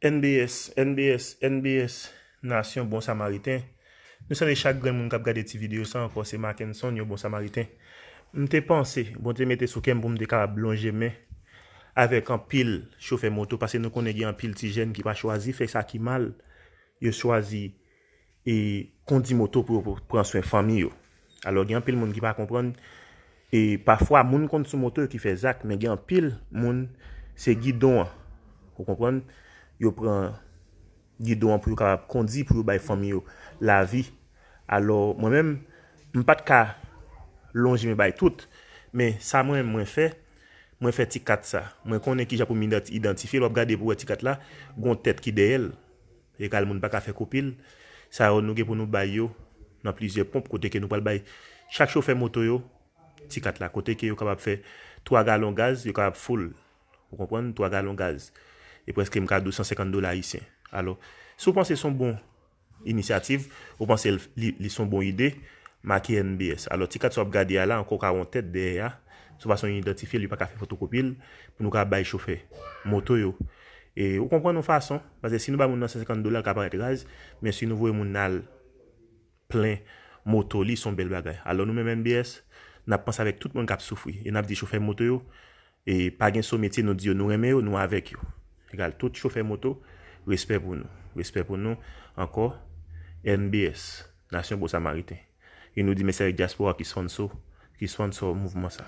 NBS, NBS, NBS, Nasyon Bon Samariten, Nou salye chak grenn moun k ap gade ti videyo sa ankò se Mackenson, yon Bon Samariten. M te panse, Bondye mete sou kè m pou m te kapab lonje men avèk anpil chofè moto, pase nou konnen gen anpil ti jèn ki pa chwazi fè sa ki mal, yo chwazi e kondi moto pou yo pran swen fanmi yo. Alò gen anpil moun ki pa konprann e pafwa moun konn sou moto yo ki fè zak men gen anpil moun se gidon an ou konprann yo pran gidon an pou yo kapab kondi pou yo bay fanmi yo lavi. Alò mwen menm m pat ka lonje men bay tout men sa mwen menm mwen fè mwen fè ti kat sa mwen konnen kijan pou m idantifye l wap gade pou wè ti kat la gon tèt ki dèyè l. Regal moun pa ka fè kopil. Sa yo nou gen pou nou bay yo nan plizyè ponp kote ke nou pral bay chak chofè moto yo ti kat la kote ke yo kapab fè 3 galon gaz yo kapab full ou konprann 3 galon gaz e prèske m ka di w 150 dola ayisyen alò si w panse son bon inisyativ ou panse l li son bon ide make NBS alò ti kat sa w ap gade a la ankò w ka wè yon tèt dèyè a son fason yon idantifye l yo pa ka fè fotokopi l pou nou ka bay chofè moto yo e ou konprann yon fason. Paske si nou bay moun nan 150 dola l ka parèt raz, men si nou voye moun nan al plen moto li son bèl bagay. Alò nou menm NBS, n ap panse avèk tout moun k ap soufri e n ap di chofè moto yo e pa gen so metye nou di yo nou renmen yo, nou avèk yo. Egal tout chofè moto, respè pou nou. Respè pou nou ankò NBS, Nasyon Bon Samariten. E nou di mèsi avèk dyaspora ki sponso, ki sponsor mouvman sa.